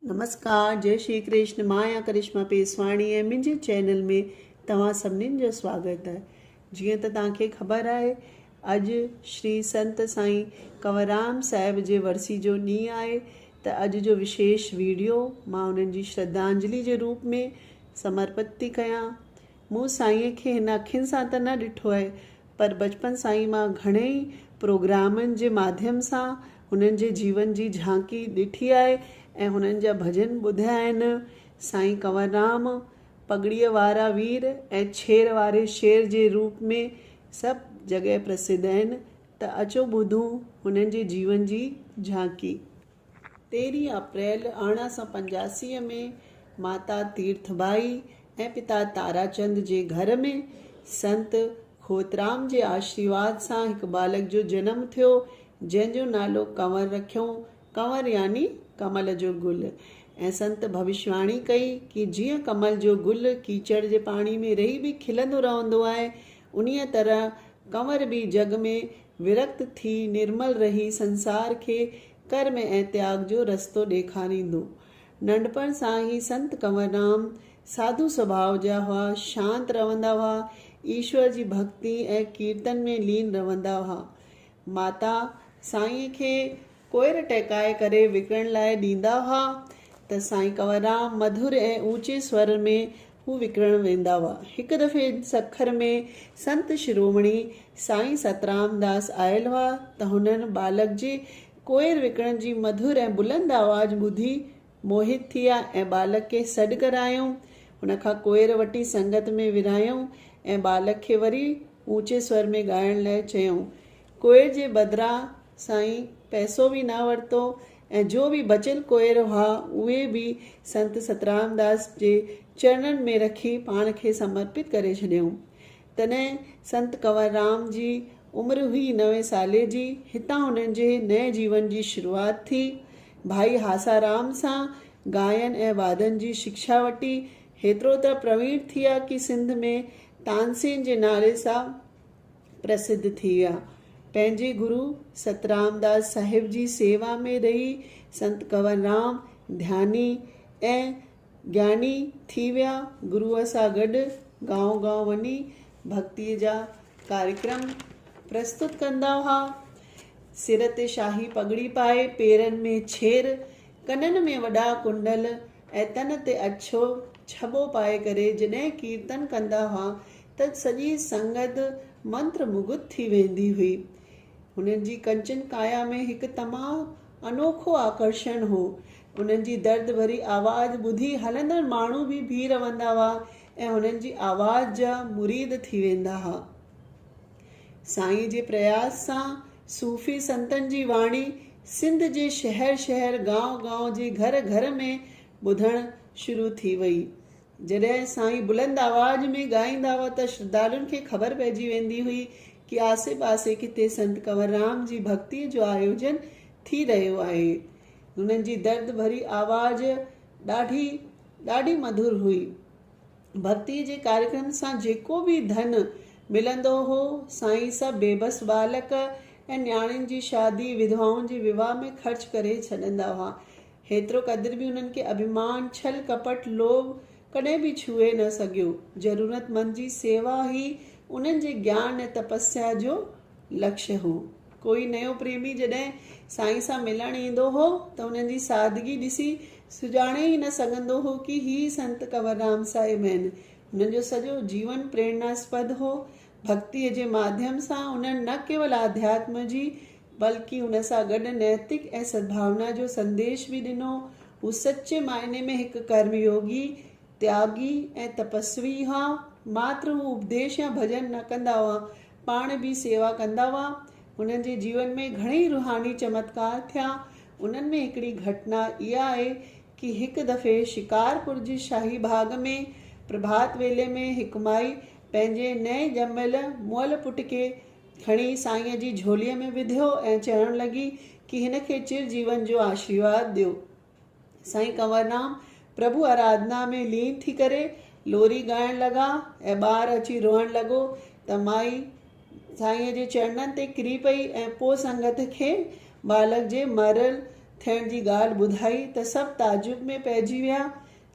نمسڪار جئي شري ڪرشن مان آهيان ڪرشما پيسواڻي ۽ منهنجي چينل ۾ توهان سڀنين جو سواگت آهي جيئن ته توهان کي خبر آهي اڄ شري سنت سائين ڪنوررام صاحب جي ورسي جو ڏينهن آهي ته اڄ جو وشيش ويڊيو مان انهن جي شرڌانجلي جي روپ ۾ سمرپت ٿي ڪيان مون سائينء کي هن اکين سان ته نه ڏٺو آهي پر بچپن سان ئي مان گهڻي ئي پروگرامن جي ماڌيم سان هنن جي جيون جي جهانڪي ڏٺي آهي ۽ هنن جا ڀڄن ٻڌيا آهن. سائين ڪنوررام پڳڙيء وارا وير ۽ ڇير واري شير جي روپ ۾ سڀ جڳهه پرسڌ آهن ته اچو ٻڌون هنن جي جيون جي جهانڪي. تيرهين اپريل ارڙهن سؤ پنجاسي ۾ ماتا تيرٿ ڀائي ۽ پتا تاراچند جي گهر ۾ سنت کوترام جي آشريواد سان هڪ ٻالڪ جو جنم ٿيو، جنهن جو نالو ڪنور رکيائون، ڪنور يعني ڪمل جو گل ۽ سنت ڀوشواڻي ڪئي ڪي جيئن ڪمل جو گل ڪيچڙ جي پاڻي ۾ رهي به کلندو رهندو آهي، انهيء طرح ڪنور به جڳ ۾ ورڪت ٿي نرمل رهي سنسار کي ڪرم ۽ تياڳ جو رستو ڏيکاريندو. ننڍپڻ سان ئي سنت ڪنوررام ساڌو سڀاء جا هئا، شانت رهندا هئا، ايشور جي ڀڳتي ۽ ڪيرتن ۾ لين رهندا هئا. ماتا سائينء کي ڪوئر ٽهڪائي ڪري وڪڻڻ لاء ڏيندا هئا ته سائين ڪنوررام مڌر ۽ اوچي سور ۾ هو وڪڻڻ ويندا هئا. هڪ دفعي سکر ۾ سنت شرومڻي سائين سترام داس آيل هئا ته هنن ٻالڪ جي ڪوئر وڪڻڻ جي مڌر ۽ بلند آواز ٻڌي موهت ٿيا ۽ ٻالڪ کي سڏ ڪرايائون. ان کان ڪوئر وٺي سنگت ۾ ورهايائون ۽ ٻالڪ کي وري اوچي سور ۾ ڳائڻ لاء چيائون. ڪوئر جي بدران سائين پئسو به نه ورتو ۽ جو به بچيل ڪوئر هئا، اهي به سنت سترامداس جي چرڻن ۾ رکي پاڻ کي سمرپت ڪري ڇڏيائون. تڏهن سنت ڪنوررام جي عمر هئي نوي سالي جي. هتان هنن جي نئين جيون جي شروعات ٿي. ڀائي هاسارام سان ڳائن ۽ وادن جي شڪشا وٺي هيترو ته پرويڻ ٿيا ڪي سنڌ ۾ تانسين جي نعري سان پرسڌ ٿي ويا. پنهنجي گرو سترامداس صاحب جي سيوا ۾ رهي سنت ڪنوررام ڌياني ۽ گياني ٿي ويا. گروء سان گڏ گائون گائون وڃي ڀڳتيء جا ڪاريڪرم پرستت ڪندا هئا. سر تي شاهي پڳڙي پائي، پيرن ۾ ڇير، ڪنن ۾ وڏا ڪنڊل ۽ تن تي اڇو ڇٻو پائي ڪري جڏهن ڪيرتن ڪندا هئا ته سڄي سنگت منتر مگڌ ٿي ويندي هئي. هنن جي ڪنچن ڪايا ۾ هڪ تمام انوکو آڪرشڻ هو. انهن جي درد ڀري آواز ٻڌي هلندڙ ماڻهو به بيهي رهندا هئا ۽ هنن جي آواز جا مريد ٿي ويندا هئا. سائين جي پرياس سان صوفي سنتن جي واڻي سنڌ جي شهر شهر، گانء گانء جي گهر گهر ۾ ٻڌڻ شروع ٿي وئي. جڏهن سائين بلند آواز ۾ ڳائيندا هئا ته شرڌالن کي خبر پئجي ويندي هئي ڪي آسي پاسي ڪٿي سنت ڪنوررام جي ڀڳتي جو آيوجن ٿي رهيو آهي. هنن جي درد ڀري آواز ڏاڍي ڏاڍي مڌر هئي. ڀڳتي جي ڪاريڪرم سان جيڪو به ڌن ملندو هو سائين سڀ بيبس ٻالڪ ۽ نياڻين جي شادي، وڌوائن جي وواهه ۾ خرچ ڪري ڇڏندا هئا. هيترو قدر به انهن کي اڀيمان، ڇل ڪپٽ، لوڀ ڪڏهن به ڇهي نه سگهيو. ضرورتمند جي سيوا ئي انهن جي گيان ۽ تپسيا جو لڪش هو. ڪوئي نيو پريمي جڏهن سائين سان ملڻ ايندو هو ته انهن جي سادگي ڏسي سڃاڻي ئي نه سگهندو هو ڪي هي سنت ڪنوررام صاحب آهن. هنن جو سڄو جيون پريرناسپد هو. ڀڳتيء جي ماڌيم سان انهن نه ڪيول آڌياتم جي بلڪ ان سان گڏ نيتڪ ۽ سدڀاونا جو سنديش به ڏنو. هو سچي معنيٰ ۾ هڪ ڪرم يوگي، تياڳي ۽ تپسوي هئا. ماتر هو اپديش يا ڀڄن نه ڪندا هئا، پاڻ به سيوا ڪندا هئا. هنن جي جيون ۾ گهڻيئي روحاني چمتڪار ٿيا. انهن ۾ هڪڙي گهٽنا اها آهي ڪي هڪ دفعي شڪارپور جي شاهي باغ ۾ پرڀات ويلي ۾ هڪ مائي پنهنجي نئين ڄميل مئل پٽ کي کڻي سائينء جي جهوليء ۾ وڌيو ۽ چوڻ لڳي ڪي هن کي چر جيون جو آشيرواد ڏيو. سائين ڪنوررام پرڀو آرادنا ۾ لين ٿي ڪري لوري ڳائڻ لڳا ۽ ٻار اچي روئڻ لڳو ته مائي سائينء جي چرڻن تي ڪري پئي ۽ پوء سنگت کي ٻالڪ جي مريل ٿيڻ جي ڳالهه ٻڌائي ته سڀ تعجب ۾ پئجي ويا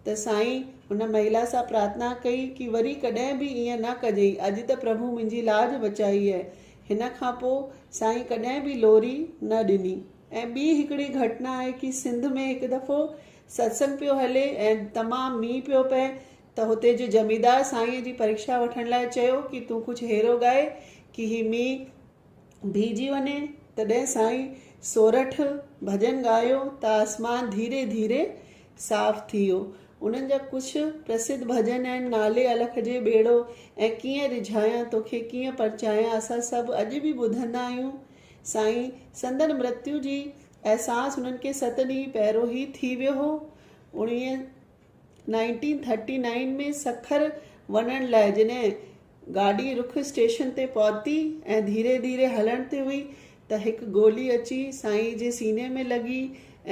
ته سائين ان مهلا سان پرارٿنا ڪئي ڪي وري ڪڏهن به ائين نه ڪجئي اڄ ته پرڀو منهنجي لاج بچائي اهي هن کان پو سائين ڪڏهن به لوري نه ڏني ۽ ٻي هڪڙي گهٽنا آهي ڪي سنڌ ۾ هڪ دفعو ستسنگ پيو هلي ۽ تمام مينهن پيو پئي ته هتي جو زميندار سائين جي پريڪشا وٺڻ لاء چيو ڪي تون ڪجهه هيرو ڳائي ڪي هي مينهن بيهجي وڃي تڏهن سائين سورٺ ڀڄن ڳايو ته آسمان ڌيري ڌيري صاف ٿي ويو. انهن جا ڪجهه پرسڌ ڀڄن آهن، نالي الک جي ٻيڙو ۽ ڪيئن رجهايان توکي ڪيئن پرچايان اسان سڀ اڄ به ٻڌندا آهيون. سائين سندن مرتيو جي احساس انهن کي ست ڏينهن پهرو ئي ٿي ويو هو. اوڻيهه نائنٽين ٿرٽي نائين ۾ سکر وڃڻ لاء جڏهن گاڏي رخ اسٽيشن تي پهتي ۽ ڌيري ڌيري هلڻ تي هئي ته هڪ گولي اچي سائينء جي سيني ۾ لڳي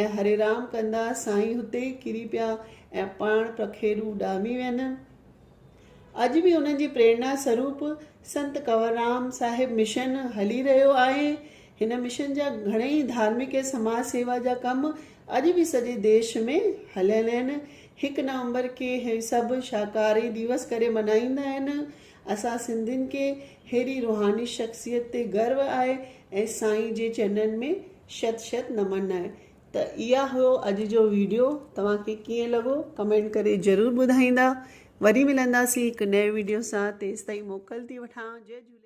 ۽ هري رام ڪندا سائين هتي ئي ڪري پيا ۽ پاڻ پکيڙو اڏامي وين. اڄ به انهن جي پريرنا سروپ سنت ڪنوررام صاحب مشن هلي رهيو آهي. هن مشن جا گهڻئي ڌارمڪ ۽ سماج سيوا جا ڪم اڄ به سڄي ديش ۾ هليل آهن. هڪ نومبر کي هي سڀ شاڪاهاري ديوس ڪري ملهائيندا آهن. اسان سنڌين کي ههڙي روحاني شخصيت تي گرو آهي ۽ سائين جي چرنن ۾ شت شت نمن آهي ته اها هيو اڄ جو ويڊيو توهان کي ڪيئن لڳو ڪمينٽ ڪري ضرور ٻڌائيندا وري ملنداسين هڪ نئين ويڊيو سان تيستائين موڪل ٿي وٺان جي جهولي